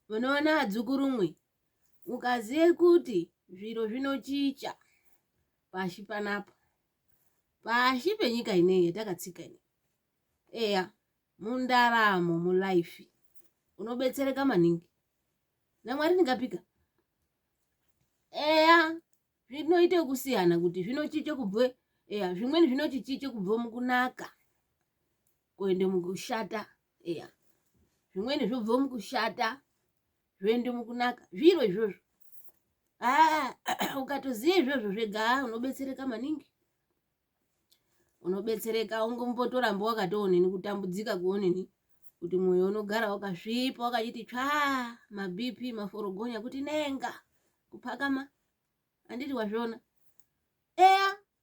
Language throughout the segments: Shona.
Munoona adzukurumwi, mukaziye kuti zviro zvinochicha pashi panapa, pashi penyika ineyi yatakatsika ineyi. Eya, mundaramo mulife unobetsereka maningi naMwari ndingapika. Eya, zvinoite kusiyana kuti zvinochiche kubve, eya zvimweni zvinochichiche kubve mukunaka kuende mukushata eya zvimweni zvobva mukushata zvoende mukunaka zviro izvozvo aa ah, ukatoziva izvozvo zvega ah, unobetsereka maningi unobetsereka ungombotoramba wakatoonini kutambudzika kuonini kuti mwoyo unogara wakasvipa wakachiti tsvaa mabp maforogonya kuti nenga kupakama handiti wazviona eya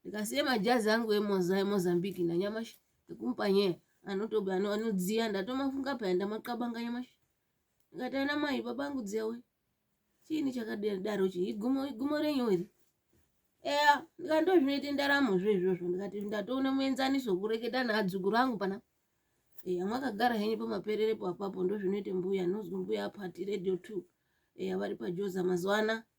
ndikasiya majazi angu emozambique nanyamashi ekumupa nyaya anotobe anodziya ndatomafunga paya ndamaqabanga nyamashi ndikati ana mai baba angu dziya we chiini chakadaro chi igumo igumo renyu iri eya ndikati ndozvinoita ndaramo zvo izvozvo ndikati ndatoona muenzaniso kureketa naadzukuru angu pana eya mwakagara henyu pamapererepo apapo ndozvinoita mbuya nozwi mbuya apati radio two eya vari pajoza mazuva anaa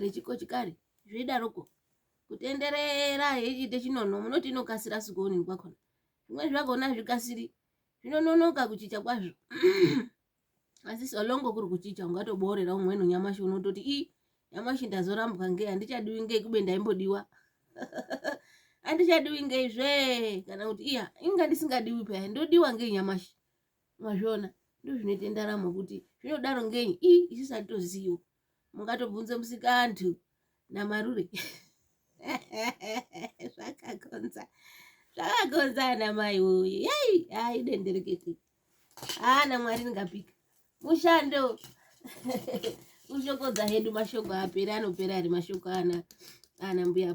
rechikochikari zveidaroko kutenderera yechiite chinono munoti inokasira sikuonini kwakona zvimwe zvakona zvikasiri zvinononoka kuchicha kwazvo asi solongo kuri kuchicha ungatoboorera umweni nyamashi unototi i nyamashi ndazorambwa ngei handichadiwi ngei kube ndaimbodiwa handichadiwi ngei zvee kana kuti iya inga ndisingadiwi paya ndodiwa ngei nyamashi mazviona ndozvinoita ndaramo kuti zvinodaro ngei i isisatoziwo mungatobvunze musikantu namarure zvakakonza zvakakonza ana mai woye yei haa idenderekete haa namwari ndingapika mushando kushokodza hedu mashoko apera anopera ari mashoko ana ana mbuya